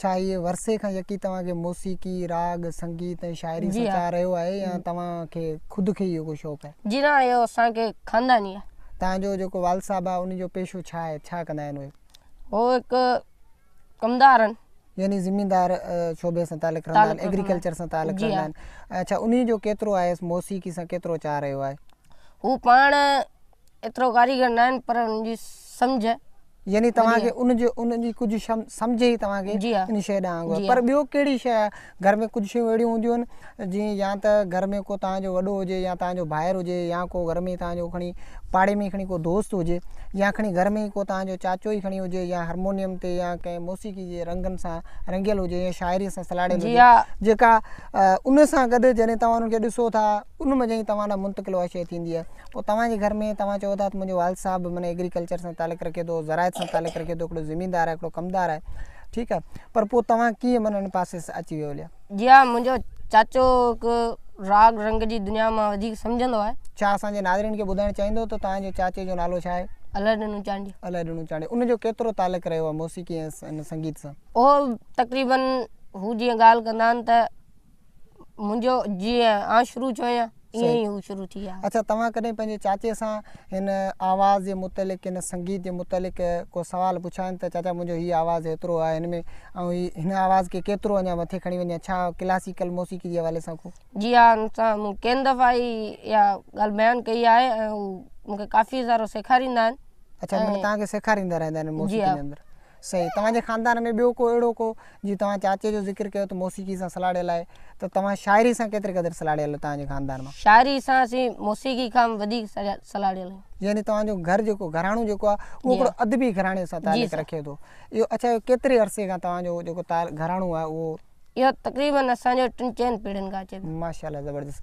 ڇا هيء ورثي کان يڪي توهان کي موسيقي، راڳ، سنگيت ۽ شاعري سان چاهه رهيو آهي يا توهان کي خود کي ئي اهو شوق آهي؟ جي نه اهو اسان کي خانداني آهي. توهان جو جيڪو والد صاحب آهي ان جو پيشو ڇا آهي؟ ڇا ڪندا آهن اهي؟ هو هڪ ڪمدار آهن. يعني زميندار شعبي سان تعلق رکندا آهن، ايگريڪلچر سان تعلق رکندا آهن. اڇا انهي جو ڪيترو آهيس موسيقي سان ڪيترو چاهه رهيو آهي؟ هو پاڻ. ايترو ڪاريگر ناهن پر ان جي سمجهه يعني توهان کي ان جو ان جي ڪجهه سمجهه ئي توهان کي ان شيء ڏانهن آندو آهي پر ٻيو ڪهڙي شيء آهي گهر ۾ ڪجهه شيون اهڙيون هونديون آهن جيئن يا ته گهر ۾ ڪو توهان جو وڏو هجي يا توهان جو ڀائر هجي يا ڪو گهر ۾ توهان جو کڻي پاڙي ۾ کڻي ڪو دوست هجي يا کڻي گهر ۾ ڪو توهان جو چاچو ئي کڻي هجي يا هرمونيم تي يا ڪنهن موسيقي جي رنگن سان رنگيل هجي يا شاعري سان سلاڙيل هجي جيڪا ان سان گڏ جڏهن توهان ان کي ڏسو ٿا ان ۾ جئين توهان ڏانهن منتقل اها شيء ٿيندي آهي پوء توهان جي گهر ۾ توهان چئو ٿا ته منهنجو والد صاحب معنيٰ ايگريڪلچر سان تعلق رکي ٿو زراعت سان تعلق رکي ٿو هڪڙو زميندار آهي هڪڙو ڪمدار آهي ٺيڪ آهي پر پوء توهان ڪيئن معنيٰ ان پاسي اچي ويو ليا جي ها منهنجو چاچو هڪ راڳ رنگ جي دنيا مان وڌيڪ سمجهندو آهي ڇا اسان جي ناظرين کي ٻڌائڻ چاهيندو ته توهان جي چاچي جو نالو ڇا آهي الهه ڏنو چانڊيو الهه ڏنو چانڊيو ان جو ڪيترو تعلق رهيو آهي موسيقي ۽ سنگيت سان اهو تقريبن هو جيئن ڳالهه ڪندا آهن ته منهنجو جيئن آئون شروع ٿيو آهيان ائين ئي هو شروع ٿي ويا اڇا توهان ڪڏهن پنهنجي چاچي سان هن آواز جي متعلق هن سنگيت جي متعلق ڪو سوال پڇيو آهن ته چاچا منهنجو هي آواز هيترو آهي هن ۾ آئون هي هن آواز کي ڪيترو اڃا مٿي کڻي وڃان ڇا ڪلاسيڪل موسيقي جي حوالي سان ڪو جي ها انسان مون ڪين دفعا هي يا ڳالهه بيان ڪئي آهي ۽ هو مونکي ڪافي سارو سيکاريندا آهن اڇا مطلب توهان کي سيکاريندا رهندا آهن موسيقي جي اندر صحيح توهان جي خاندان ۾ ٻيو ڪو اهڙو ڪو جيئن توهان چاچي جو ذڪر ڪيو ته موسيقي سان سلهاڙيل آهي ته توهان شاعري سان ڪيتري قدر سلهاڙيل آهيو توهان جي خاندان مان. شاعري سان اسين موسيقي کان به وڌيڪ سلهاڙيل آهيون. يعني توهان جو گهر جيڪو گهراڻو جيڪو آهي اهو هڪڙو ادبي گهراڻي سان تعلق رکي ٿو اهو اڇا اهو ڪيتري عرصي کان توهان جو جيڪو گهراڻو آهي اهو. اهو تقريبن اسان جو ٽن چئن پيڙهين کان اچي ٿو. ماشاء الله زبردست.